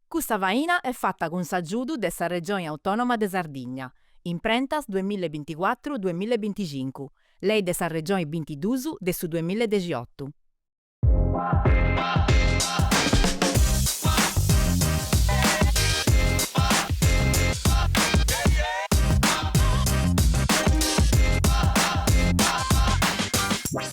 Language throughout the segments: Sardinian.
Custa faina est fata cun s'agiudu de sa Regioni Autònoma de Sardigna, Imprentas duamilla e binticuatru duamilla e binticincu, Lei de sa Regioni bintiduus de su duamilla e dexiotu.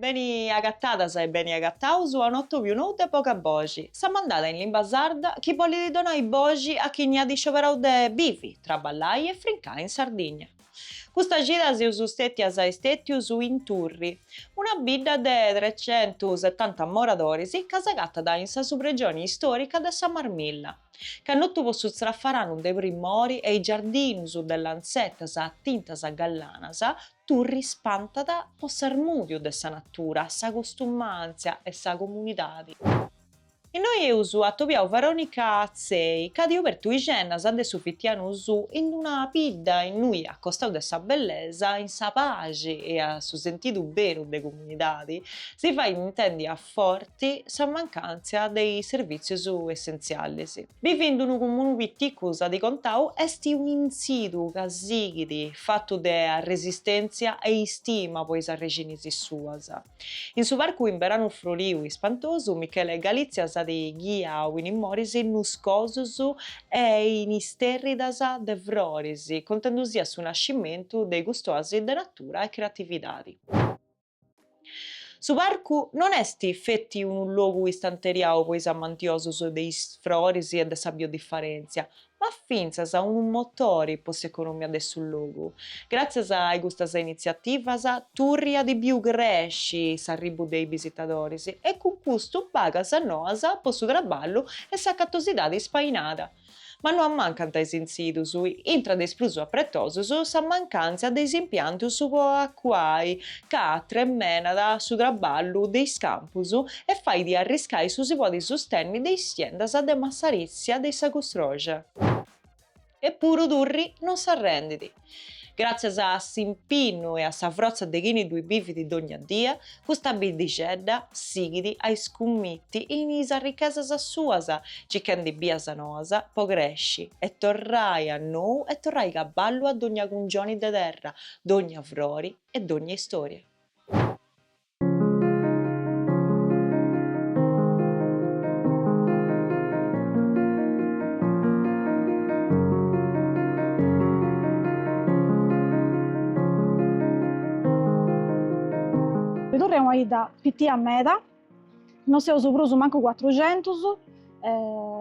Beni agatadas e beni agataus a un'atòbiu nou de Boga Boxi, sa mandada in limba sarda chi bolit donai boxi a chini at iscioberau de bivi, traballai e frincai in Sardigna. Custa cida seus stètias e stètius in Turri, una bidda de trecentusetanta moradoris ca s'agatat in sa subregioni istòrica de sa Marmilla, cannotu po su tzrafaranu de primori e is giardinus de lantzetas a tintas gallanas, Turri spantat po s'armùdiu de sa natura, sa costumàntzia e sa comunidadi. Innoi eus atobiau Veronica Atzei, ca at obertu is gennas de su fitianu suu in d'una bidda innui a costau de sa bellesa, in sa paxi e a su sentidu beru de comunidadi, si fait intendi a. forti sa mancàntzia de is servìtzius essentzialis. Bivi in d'unu comunu piticu, s'at contau, est unu intzidu ca sighit fatu de arresistèntzia e istima po is arrixinis suas. In su parcu in beranu froriu e ispantosu, Michele Galizia s'at ghiau in is moris nuscosus e in is istèrridas de froris, contendusia su nascimentu de custa òasi de natura e creatividadi. Su parcu non est feti unu logu istanteriau po is amantiosus de is froris e de sa biodiferèntzia, ma fintzas unu motori po s'economia de su logu. Gràtzias a i custas initziativas, Turri at biu cresci s'arribu de is bisitadoris e cun custu bagas noas po su traballu e s'acatosidadi ispainada. Ma no ammancant is intzidus, intra de is prus apretosus sa mancàntzia de is impiantus po acuai ca atremenat su traballu de is campus e fait arriscai su si podi sustenni de is siendas de massaritzia de sa custroxa. Eppuru Turri non s'arrendit. Gràtzias a s'impinnu e a sa frotza de chini ddui bivit dogna dia, custa biddixedda sighit a iscummiti in is arrichesas suas, circhendi bias noas po cresci e torrai a nou e torrai caballu a dogna cungioni de terra, dogna frori e dogna istoria. Bì Turri est una idda pitia meda, no seus prus mancu cuatruxentus,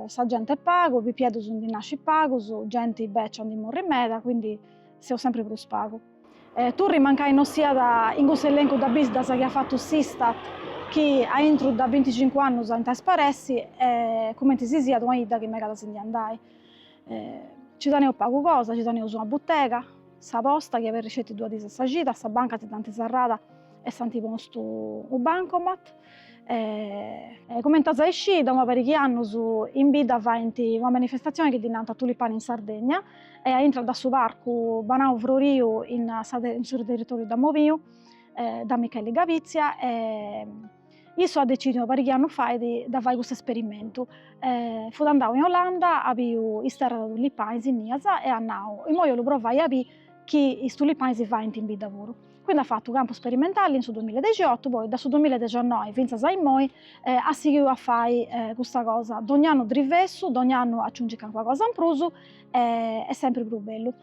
sa genti est pagu, pipiedus ndi nascit pagus, genti becia ndi morrit meda, quindi seus sempri prus pagu. Turri mancai no siat in cussu elencu de biddas chi at fatu s'Istat chi a intru de binticincu annus ant a isparessi e cumenti si siat una 'idda chi megat a si ndi andai. Nci teneus pagu cosa, nci teneus una butega, sa posta chi aberit sceti duas diis a sa cida, sa banca si dd'ant serrada e s'ant postu u' bancomat, E, comente as a iscì, da una perighi annus in bidda faint una manifestatzioni chi ddi nant Tulipani in Sardegna e aintru da su parcu Banau Froriu in sa in su territoriu de Mobiu da Micheli Gavizia e issu at decidiu una parighi annus fait de de fai custu esperimentu e fut andau in Olanda at biu is terras de tulipanis inias e at nau, immoi 'ollu provai a bì chi is tulipanis si faint in bidda puru Quindi at fatu campu sperimentali in su duamilla e dexiotu, poi da su duamilla e dexennoi fintzas a immoi at sighiu a fai custa cosa, dogni annu drivessu, dogni annu aciungit calincuna cosa in prus e sempri prus bellu.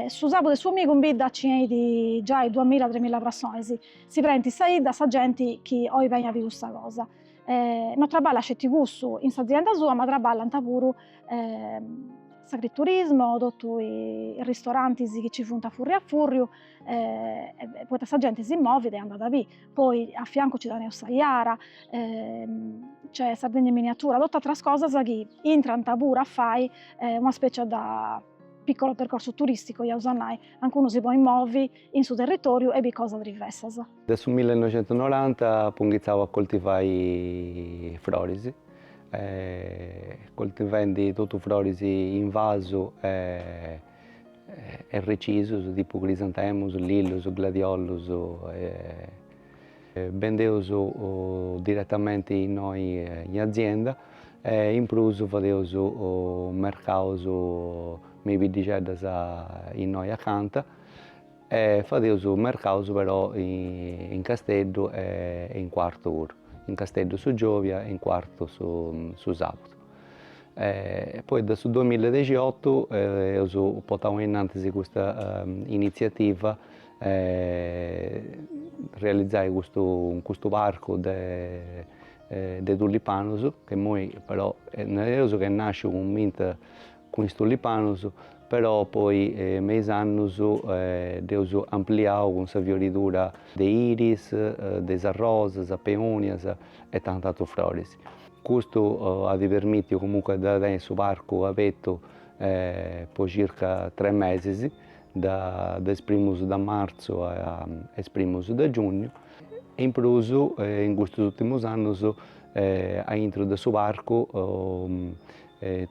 Su sabu e su 'omigu in bidda nci 'enit giai duamilla tremilla prassonis, si prenit sa 'idda da genti chi oit beni a biri custa cosa, no traballat sceti cussu in s'azienda sua ma traballant puru s'agriturismo, totu is ristorantis chi nci funt a furriu a furriu eh, eh, poita sa genti si movit e andat a bì, poi a fiancu ci teneus sa Iara, eh, c'è Sardegna in miniatura, totu atras cosas chi intrant puru a fai eh, una specie de piccolo percorso turistico, iaus a nai, anca unu si podit movi in su territoriu e bì cosas diversas. De su 1990 apu inghitzau a coltivai froris, eh, coltivendi totu froris in vasu e e recisus tipu crisantemus, lillus, gladiollus e bendeus diretamenti innoi in azienda e in prus fadeus mercaus me is biddixeddas innoi acanta e fadeus mercaus però in Casteddu e in Quartu puru, in Casteddu su giòvia e in Quartu su sabudu. e poi de su duamilla e dexiotu eus potau innantis custa initziativa realizai custu custu parcu de de tulipanus ca immoi però nareus ca est nasciu cumenti cun is tullipanus, però poi me is annus eus ampliau cun sa fioridura de iris, de arrosas, peonias e tantu atrus froris. Custu at permitiu comunque de tenni su parcu abertu po circa tres mesis, de is primus de martzu a is primus de giugnu, e in prus in custus urtimus annus aintru de su parcu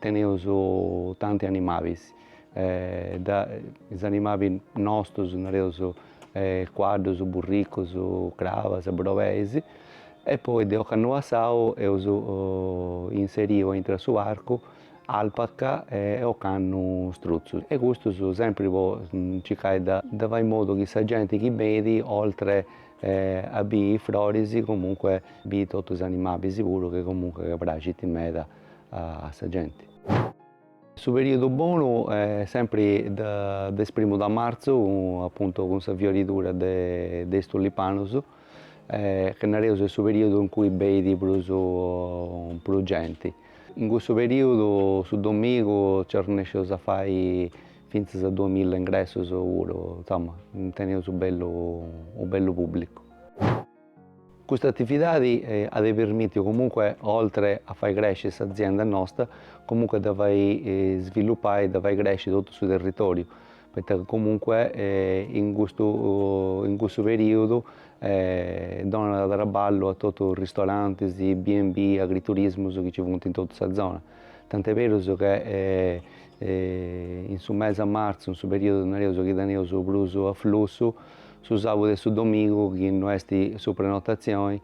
Teneus tanti animabis, is animabi nostus nareus cuaddus, burricus, crabas, brobeis e poi de ocannu passau eus inseriu aintru a su parcu alpaca e ocannu struzzus e custus sempri po circai de fai in modu chi sa genti chi benit oltre a biri is froris comunque biri totus is animabis puru chi comunque praxint meda a sa genti. Su periodu bonu est sempri de is primus de martzu, apuntu cun sa fioridura de is tullipanus, chi nareus est su periodu in cui beidi prus prus genti. In cussu periodu su domigu nci arrennesceus a fai fintzas a duas milla ingressus puru, insoma, teneus u bellu u bellu publicu. Custa atividadi at permìtiu comunque, oltre a fai cresci s'azienda nosta, comunque de fai svillupai, de fai cresci totu su territòriu, poita comunque in cussu perìodu donat traballu a totus is ristorantis, B&B, agriturismus chi nci funt in totu sa zona. Tant'e berus ca in su mesi 'e marzu, in su perìodu nareus chi teneus prus aflussu Su sàbudu e su domigu, chi no est su prenotazione,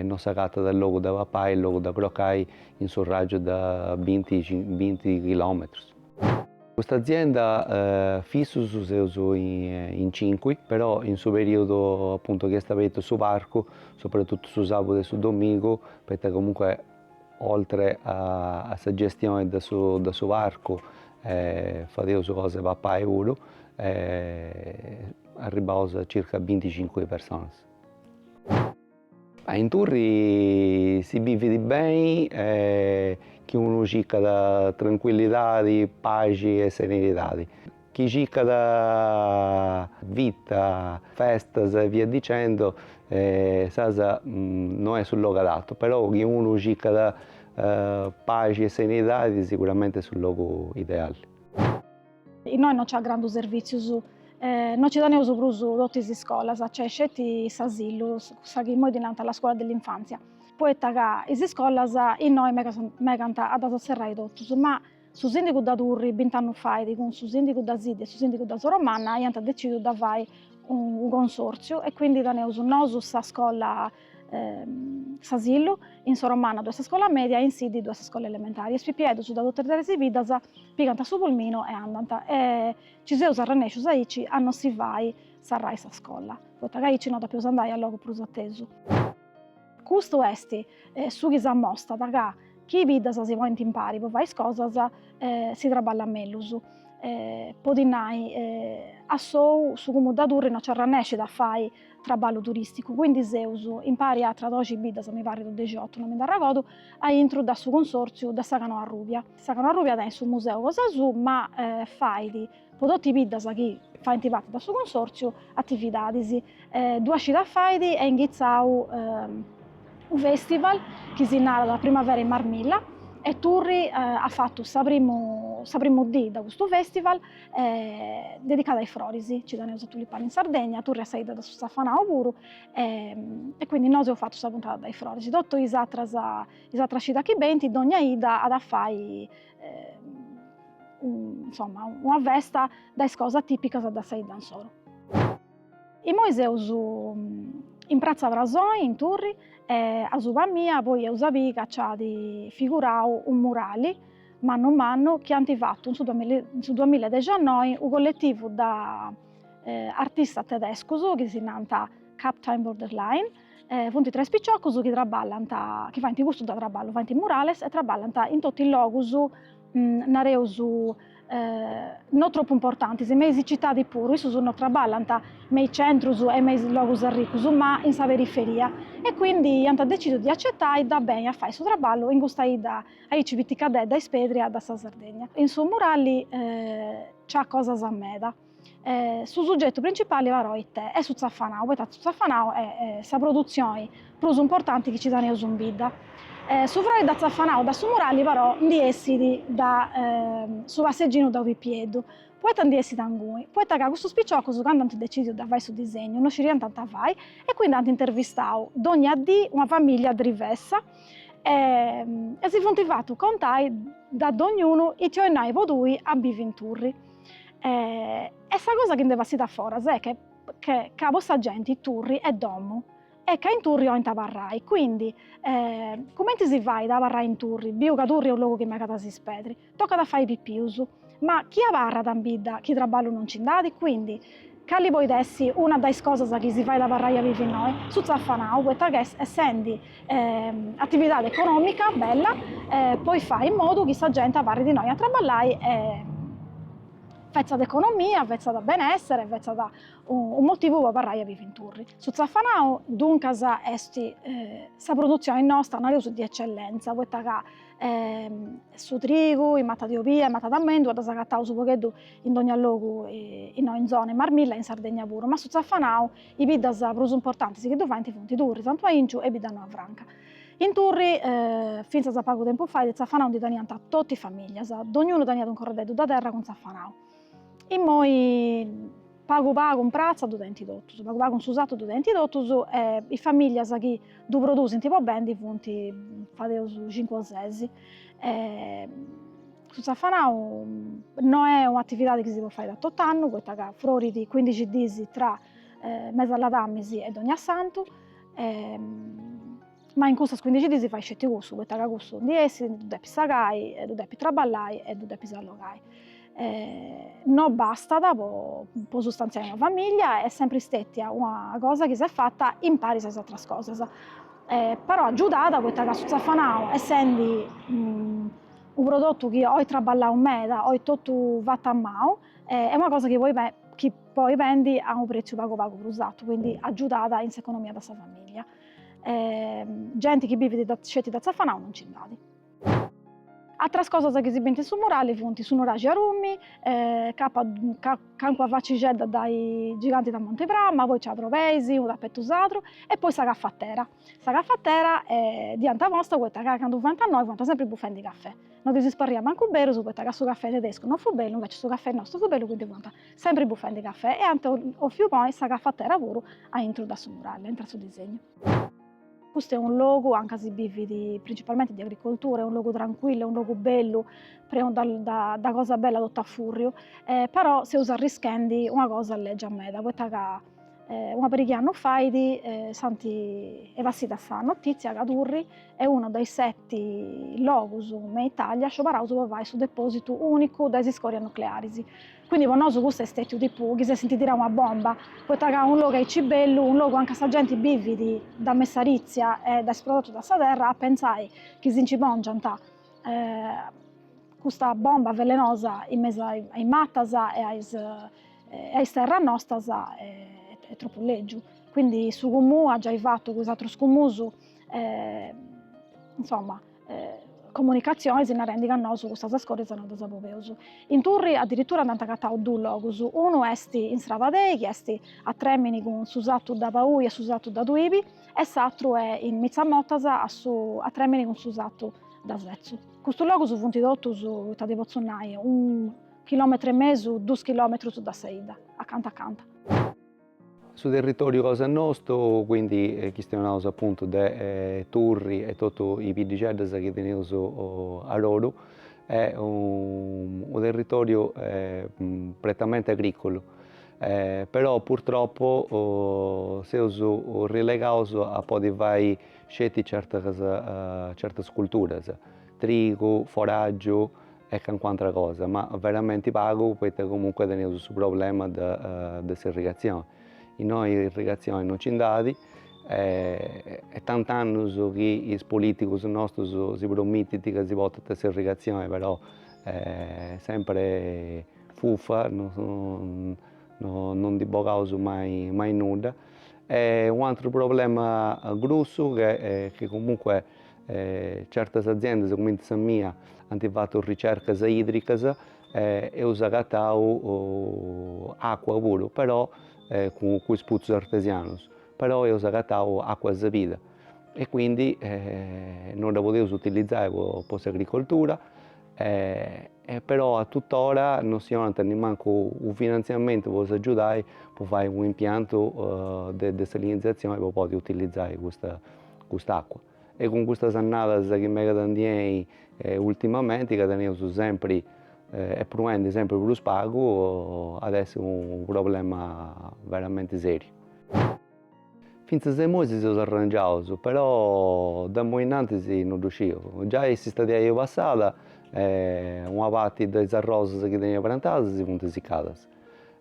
no s'agatat logu de papai e logu de crocai in su ràgiu de binti chilòmetrus. Custa azienda fissus seus in cincu, però in su perìodu apuntu chi est abertu su parcu, sopratutu su sàbudu e su domigu, poita comunque Oltre a sa gestioni de su parcu fadeus cosa 'e papai puru e arribbaus a circa binticincu personas. In Turri si bivit beni chi unu circat trancuillidadi, paxi e serenidadi. chi circat vita, festas e via dicendo, nareus no est su logu adattu, però chi unu circat paxi e serenidadi siguramente est su logu ideali. Innoi no nc'at grandu servìtzius, no nci teneus prus totu is iscolas, nc'est sceti s'asilu, cussa chi imoi ddi narant la scuola dell'infanzia, poita ca is iscolas innoi megant a ddas serrai totus, ma Su sìndigu da Turri bint'annus fait cun su sìndigu da Siddi e su sìndigu da Soromanna aiant decidiu da fai unu consòrtziu e quindi taneus nosu sa scola s'asillu, in Soromanna ddo'est sa scola mèdia e in Siddi ddo'est sa scola elementari e is pipieddus da totu is tres biddas pigant su pulminu e andant e nci seus arrennèscius aici a non si fai sarrai sa scola, poita ca aici no dapeus andai a logu prus atesu. Custu est su chi s'amostat ca chi i biddas si ponint impari po fai is cosas si traballat mellus. Po ti nai, a sou su Cumunu da Turri no nc'arrannescit a fai traballu turisticu, quindi seus impari a atras doxi biddas, mi parrit, o dexiotu, no mi nd'arragodu, aintru da su Consortziu de sa Corona Arrubia. Sa Corona Arrubia tenit su museu cosa suu ma fait po totu is biddas chi faint parti de su Consòrtziu atividadis, duas cidas fait est inghitzau unu fèstival chi si narat Primavera in Marmilla e Turri at fatu sa primu sa primu dì de custu fèstival dedicada a is froris, nci teneus a Tulipani in Sardegna, Turri est sa 'idda de su zafanau puru e quindi nosu eus fatu sa puntada de is froris, totu is atras cidas chi benint dònnia 'idda at a fai insomma, una festa da is cosas tipicas de sa 'idda insoro. Immoi seus in pratza Frasoi, in Turri, e asuba mia poi eus a biri ca nc'at figurau unu murali, mannu mannu, chi ant fatu in su in su duamilla e dexannoi unu colletivu de artistas tedescus, chi si nant Captain Borderline, funt tres piciocus chi traballant, chi faint custu de traballu, faint murales e traballant in totu is logus, nareus no tropu importantis, me is citadis puru, issus no traballant me is centrus e me is logus arricus, ma in sa periferia, e quindi iant decidiu de acetai de benni a fai su traballu in custa 'idda aici piticadedda e ispedria de sa Sardegna. In su murali nc'at cosas meda. Eh, su sugetu principali però ite? Est su tzafanau, poita su tzafanau est sa produtzioni prus importanti chi ci taneus in bidda. Eh, su frori da tzafanau da su murali però ndi essit da su passeginu de unu pipieddu, poita ndi essit angui? Poita ca custus piciocus candu ant decidiu de fai su disegnu no sciriant ita fai e quindi ant intervistau dogna dì una famiglia drivessa e si funt fatus contai da dognunu ite 'oit nai po tui a bivi in Turri. E, e sa cosa chi nd'est bessida a foras est che ca po sa genti Turri est domu e ca in Turri 'olint abarrai, quindi cumenti si fait a abarrai in Turri, biu ca Turri est unu logu chi megat a s'ispedri, tocat a fai pipius, ma chi abarrat in bidda chi traballu non nci nd'at, quindi Cali poit essi una dae is cosas chi si fait abarrai a bivi innoi? Su tzafanau, poita ca essendi atividadi econòmica bella podit fai in modu chi sa genti abarrit innoi a traballai e fetzat economia, fetzat benessere, fetzat unu motivu po abarrai a bivi in Turri. Su tzafanau duncas est sa produtzioni nostra, nareus, di ecellentza, poita ca e su trigu is matas de obia, is matas de mèndua ddas agataus unu pagheddu in dogna logu innoi in zona, in Marmilla e in Sardegna puru, ma su tzafanau, is biddas prus importantis chi ddu faint funt Turri, Santu Ainciu e Biddanoa Franca. In Turri, fintzas a pagu tempus fait, tzafanau ndi teniant totu is famìllias, dognunu teniat unu corrededdu de terra cun tzafanau, immoi Pagu pagu in pratza ddu tenint totus, pagu pagu in su sartu ddu tenint totus e is famìllias chi ddu produsint po bendi funt fadeus cincu o ses. Su tzafanau no est un'atividadi chi si podit fai a tot'annu poita ca frorit cuindixi diis tra mes'e ladàmis e dognasantu Ma in cussas cuindixi dis si fait sceti cussu, poita ca cussu ndi essit, ddu depis sagai, e ddu depis traballai, e ddu depis allogai. No bastat po sustanziai una famiglia, est sempri stetia una cosa chi s'est fata impari a is atras cosas, però agiudat poita ca su tzafanau essendi unu prodotu chi oit traballau meda, oit totu fatu a manu, est una cosa chi poi bendi a unu pretziu pagu pagu prus atu, quindi agiudat in s'economia de sa famiglia E genti chi bivit sceti da tzafanau non nci nd'at. Atras cosas chi si bint in su murali funt su nuraxi 'e Barùmini, calincuna facixedda dae is Gigantis da Monte Prama, poi ci at brobeis, unu tapetu sardu e poi sa cafatera. Sa cafatera dd'ant posta poita ca candu fuant innoi fuant sempri bufendi cafè, non ddis parriat mancu berus poita ca su cafè tedescu non fut bellu, invecias su cafè nostru fut bellu, quindi fuant Sempri bufendi cafè e ant 'òfiu ponni sa cafatera puru a intru da su murale, intru a su disegnu. Custu est unu logu anca si bivit principalmenti de agricoltura, est unu logu trancuillu, est unu logu bellu, prenu da cosa bella totu a furriu, però seus arrischendi una cosa legia meda, poita ca Una pariga 'e annus fait si nd'est bessida sa notìtzia ca Turri est unu dae is seti logus me Itàlia sciobaraus po fai su depòsitu ùnicu dae is iscòrias nuclearis. Quindi po nosu custu est stètiu tipu chi s'essint tirau una bomba, poita ca unu logu aici bellu, unu logu anca sa genti bivit dae messarìtzia e dae is prodotus de sa terra, a pentzai chi si nci pòngiant custa bomba velenosa in mesu a is matas e a is e ai is terras nostas est tropu lègiu, quindi su Comú at giai fatu cun is atrus Comus insoma comunicatzionis narendi ca nosu cussas iscòrias non ddas boveus. In Turri addirittura nd'ant agatau duus logus, unu est in Strabadei chi est a trèmini cun su satu de Paui e su satu de Tuibi e s'atru est in Mitzamotas a su a trèmini cun su satu de Setzu. Custus logus funt totu, ita ti potzu nai, Chilòmetru e mesu, dus chilòmetrus da sa 'idda, acanta acanta. Su territòriu cosa nostu, quindi chistionaus apuntu de Turri e totu is biddixeddas chi teneus a oru, est unu territòriu prettamenti agricolu, però purtroppu seus relegaus a podi fai sceti certas certas culturas, trigu, foraggiu e cancu antra cosa, ma veramenti pagu poita comunque teneus su problema de s'irrigatzioni, innoi irrigatzioni no nci nd'at, est tant'annus chi is politigus nostus si promitint ca si portant s'irrigatzioni però sempri fufa, no no ndi bogaus mai mai nudda e u' atru problema grussu chi comunque e certas aziendas cumenti sa mia anti fatu ricercas idricas e eus agatau acua puru però cun is putzus artesianus però eus agatau acua sabida e quindi non dda podeus utilizai po s'agricoltura e però a tutt'ora non si 'onant nemmancu u' finanziamentu po s'agiudai po fai u' impiantu de desalinizazioni po podi utilizai custa cust'acqua e cun custas annadas chi megant a ndi 'enni ultimamenti ca teneus sempri, est proendi sempri prus pagu, at a essi unu problema veramenti seriu. Fintzas a imoi si seus arrangiaus però de imoi innantis no ddu sciu, giai s'istadi passada una parti de is arrosas chi tenia prantadas si funti sicadas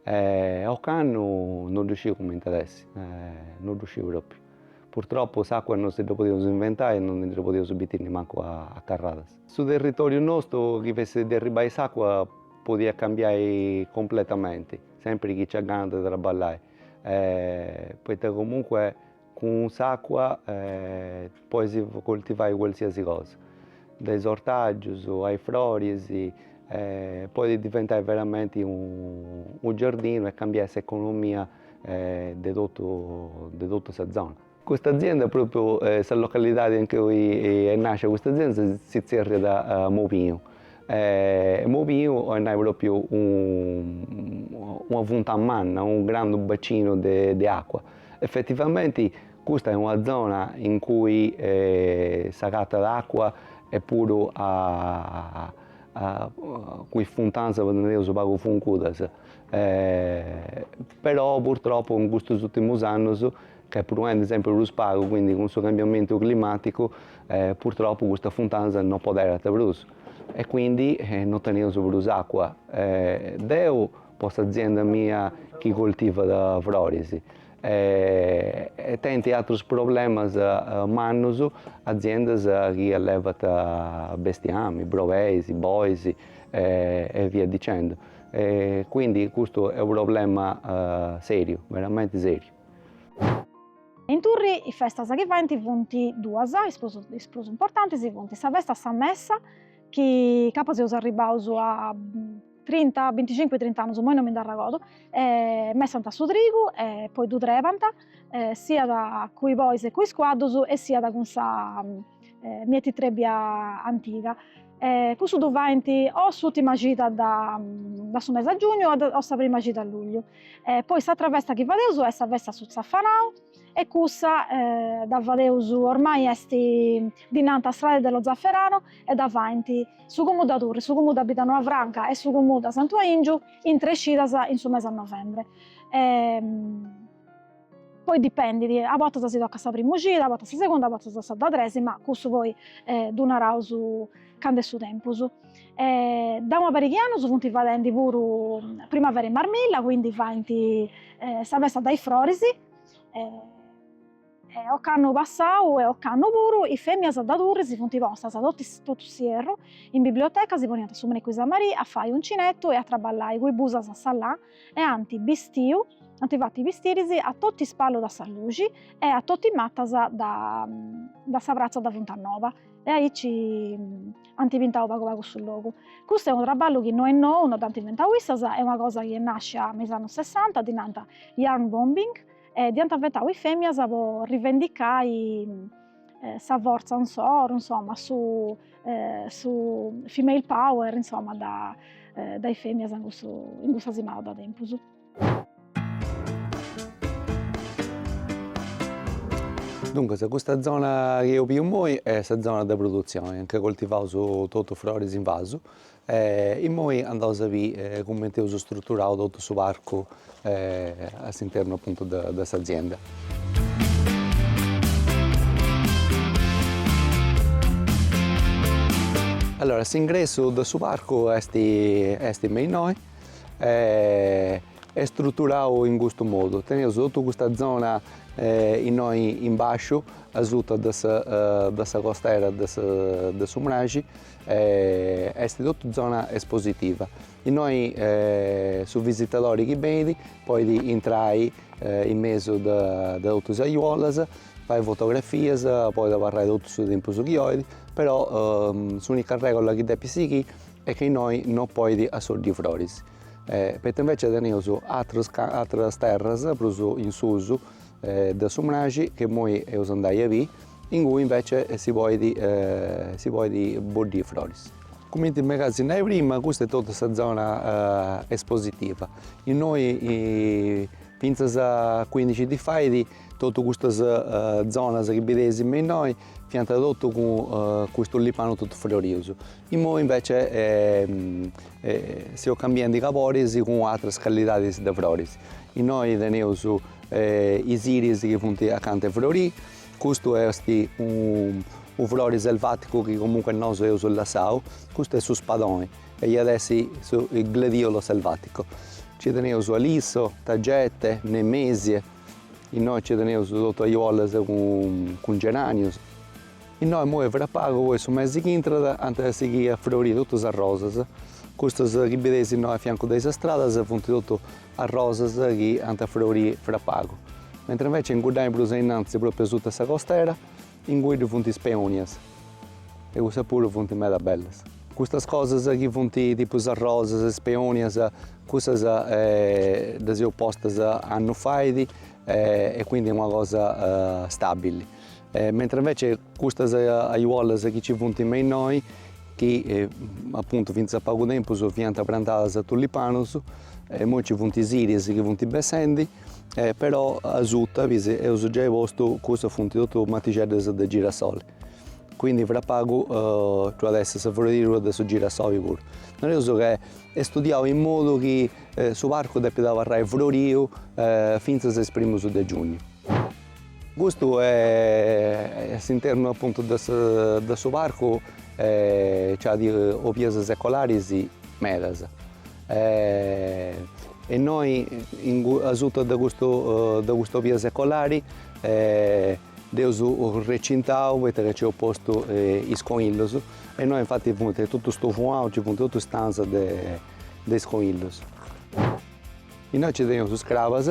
e ocannu no ddu sciu cumenti at a essi no ddu sciu propriu Purtroppu s'àcua non si dda podeus inventai e non ndi dda podeus bittiri nimancu a carradas. Su territòriu nostu chi fessit de arribbai s'àcua podiat cambiai completamenti, sempiri chi nci at gana de trabballai, poita comunque cun s'àcua podis coltivai qualsiasi cosa, dae is ortàgius a is froris, podit diventai veramenti u' giardinu e cambiai s'economia de totu de totu sa zona. Custa azienda propriu sa localidadi in cui est nascia custa azienda si tzerriat Mobiu e Mobiu oit nai propriu una funtana manna unu grandu bacinu de acua effettivamenti custa est una zona in cui s'agattat acua e puru innoi is funtanas funt pagu funcudas però purtroppo in custos ultimus annos ci proit sempri prus pagu, quindi cun su cambiamentu climaticu purtroppo custas funtanas non poderant prus e quindi non teneus prus acqua, deu po s'azienda mia chi coltivat froris e tenint atrus problemas mannus aziendas chi allevant bestiamini, brebeis, bois e via dicendo e quindi custu est unu problema seriu, veramenti seriu. In Turri is festas chi faint funt duas, is prus is prus importantis funt sa festa de sa messa chi capaz seus arribbaus a trinta binticincu trint'annus imoi non mi nd'arregordu e messant su trigu e poi ddu trebant siat cun is bois e cun is cuaddus e siat cun sa mietitrebbia antiga E cussu ddu faint o s'ùtima cida de su mesi de giugnu o sa prima cida de lugliu. E poi s'atra festa chi fadeus est sa festa de su tzafanau e cussa dda fadeus, ormai est, ddi nant Strade dello zafferano e dda faint su comunu de Turri, su comunu de Biddanoa Franca e su comunu de Santu Aingiu in tres cidas in su mesi de novembre poi dipendit, a bortas si tocat sa prima cida, a bortas sa segunda, a bortas sa de tres, ma cussu poi ddu naraus candu est su tempus. De una pariga 'e annus funt fadendi puru primavera in Marmilla, quindi faint sa festa de is froris, e ocannu passau e ocannu puru is feminas de Turri si funt postas totu s'ierru in biblioteca, si poniant su mericeddu a su merì a fai uncinettu e a traballai cun is busas e sa lana e ant bistiu, ant fatu bistiris a totu is palus de sa luxi e a totu is matas de de sa pratza de Funtanoa e aici ant pintau pagu pagu su logu. Custu est unu traballu chi no est nou, no dd'ant inventau issas, est una cosa chi est nàscia me is annus sessanta, ddi nant yarn bombing e dd'iant inventau is fèmias po rivendicai eh, sa forza insoru, insomma, su, eh, su female power, insomma, de, eh, de is fèmias in, cussu, in cussa simada de tempus. Duncas, custa zona chi eus biu immoi est sa zona de produtzioni, anca coltivaus totu froris in vasu, Immoi andaus a bì cumenti eus struturau totu su parcu a s'internu apuntu de s'azienda. Allora s'ingressu de su parcu esti esti me innoi e struturau in custu modu, teneus totu custa zona innoi in basciu asuta de sa costera de su mraxi Est totu zona espositiva, innoi su visitadori chi benit podit intrai in mesu de totu is ajuolas, fai fotografias, podit abarrai totu su tempus chi 'olit, però s'unica regola chi depit sighì est chi innoi no podit boddiri froris, poita invece teneus ateras terras prus in susu de su mraxi che immoi eus andai a bì, ingui invece si poit si poit boddiri froris. Cumenti mega de si nai prima, custa est totu sa zona espositiva. Innoi fintzas a cuindixi dis fait totu custas zonas chi bideis me innoi Fiant totu cun is tullipanus totu frorius. Immoi invece seus cambiendi caboris cun atras callidadis de froris. Innoi teneus is iris chi funt acanta 'e frori, custu esti u frori selvaticu chi comunque nosu eus lassau, custu est su spadoni e iat essi su gladiolo selvatico. Nci teneus alisso, tagette, nemesie. Innoi nci teneus totu ajuollas cun geranius. Innoi imoi fra pagu po su mesi chi intrat ant a sighì a froriri totu is arrosas. Custas chi bideis innoi a fiancu de is stradas funt totu arrosas chi ant a froriri fra pagu. Mentras inveci in cuddai prus ainnanzi, propriu asuta 'e sa costera Ingui ddu funt is peonias e cussas puru funt meda bellas. Custas cosas chi funt tipu is rosas, is peonias, cussas ddas eus postas annu fait e quindi est una cosa stabili. Mentras invece custas ajuollas chi nci funt me innoi, chi apuntu finzas a pagu tempus fiant prantadas a tullipanus, immoi nci funt is iris chi funt bessendi e però asuta ddis eus giai postu custas funt totu matixeddas de girasoli quindi fra pagu ci at essi sa froridura de su girasoli puru nareus ca est studiau in modu chi su parcu depit abarrai froriu finzas a is primus de giugnu custu a s'internu apuntu de sa de su parcu ci at obias secolaris medas E innoi asuta de cust'obia secolari dd'eus recintau poita ca nc'eus postu is conillus e innoi infati funt totus stufuaus, nci funt totus stanzas de is conillus. Innoi nci teneus is crabas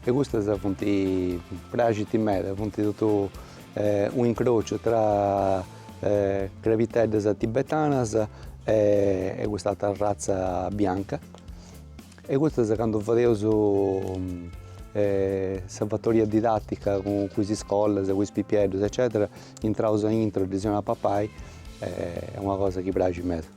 E custas funt, praxint meda, funt totu un'incrociu tra crabiteddas tibetanas e cust'altra arratza bianca e custas candu fadeus sa fatoria didattica cun is iscolas, cun is pipieddus eccetera intraus aintru ddis 'eus a papai est una cosa chi praxit meda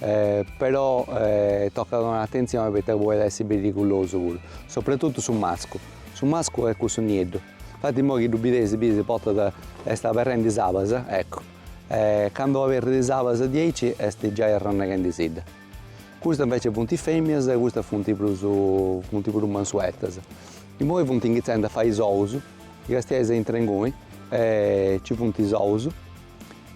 Però tocat donai atentzioni poita podet essi perigulosu puru, soprattuttu su mascu. Su mascu est cussu nieddu, infatti immoi chi ddu bideis bideis portat est aberrendi is abas, eccu, e candu aberrit is abas diaici est giai arranneghendisidda. Custas inveci funt is femias e custas funt prus funt prus mansuetas. Immoi funt inghitzendi a fai is ous, chi castiais intra inguni, ci funt is ous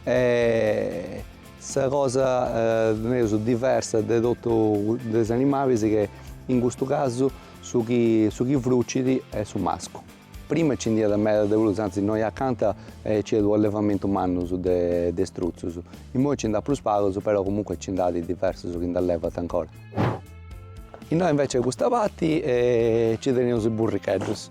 e Sa cosa nareus diversa de totu de is animalis che in custu casu su chi su chi frucit est su mascu. Prima nci nd'iat meda de prus, antzis innoi acanta nc'iat u' allevamentu mannus de de struzzus. Immoi nci nd'at prus pagus però comunque nci nd'at diversus chi nd'allevant ancora. Innoi invece a custa parti nci teneus is burricheddus.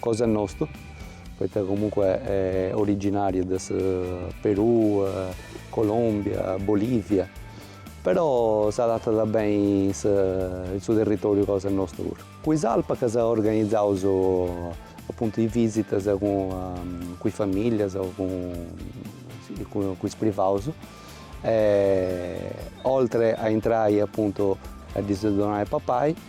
Cosa nostu, poita comunque originariu de su Perù, Colombia, Bolivia, però s'adatat beni in su territoriu cosa nostu puru. Cun is alpacas organizaus apuntu is visitas cun is familias o cun is privaus, oltre a intrai apuntu a ddis donai papai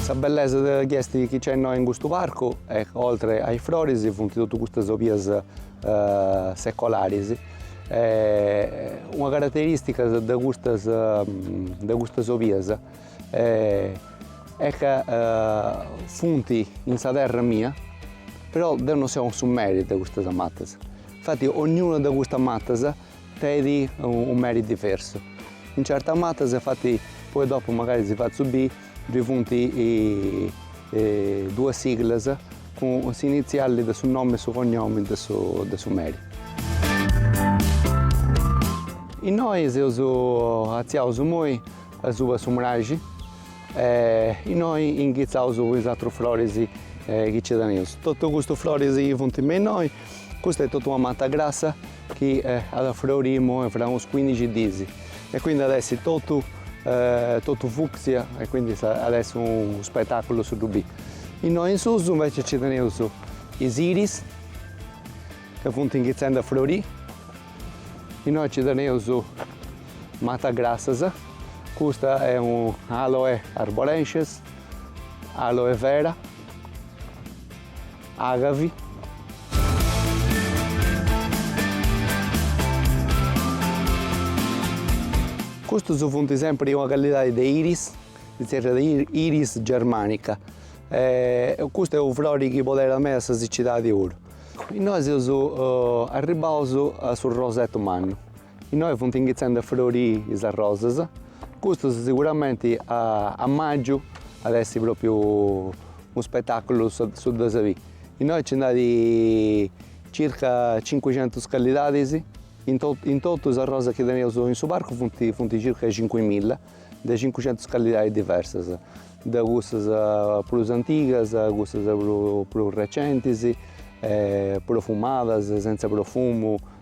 Sa bellesa de chi est chi nc'est innoi in custu parcu est ca oltre a is froris funt totus custas obias secolaris e una carateristica de custas de custas obias est ca funt in sa terra mia però deu non seu su meri de custas matas, infati ognuna de custas matas Tenit u' meri diversu. In certas matas infati poi dopu magari si fatzu biri ddi funti duas siglas cun s'initziali de su nomi e su cognomu de su de su meri. Innoi seus atziaus imoi asuba su mraxi e innoi inghitzaus cun is atrus floris chi nci teneus. Totu custus floris chi funti me innoi Custa est totu una mata grassa chi at a froriri imoi fra unos cuindixi diis e quindi at a essi totu totu fucsia e quindi at a essi unu spetaculu su ddu biri. Innoi in susu invece nci teneus is iris ca funt inghitzendi a froriri, innoi nci teneus matas grassas, custa est u' aloe arborescens, aloe vera Agavi. Custus funt sempri una callidadi de iris, si tzerriat iris germanica, custu est unu frori chi poderat meda sa sicidadi puru. Innoi seus arribbaus a su rosetu mannu. Innoi funt inghitzende a froriri is arrosas, custu siguramenti a magiu at essi propriu unu spetaculu su ddas biri. Innoi nci nd'at circa cincuicentus callidadis, in totu is arrosas chi teneus in su parcu funt circa cincuimilla de cincuicentus callidadis diversas, de cussas prus antigas a cussas prus recentis, profumadas, sentza profumu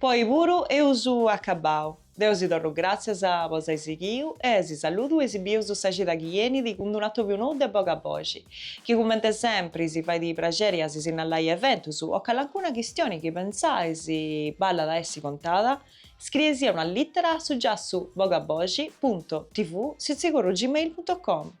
Po oi puru eus acabbau. Deu si torru gràtzias po s'ai sighiu e si saludu e si bieus sa cida chi benit cun d-unu atobiu nou de boga boxi, chi cumente sempri si fait praxeri a si sinnalai eventus o calancuna chistioni chi pentzais ballat a essi contada, scrieisì una lìtera a su giassu bogaboxi punto tv sitzigorru gmail punto com.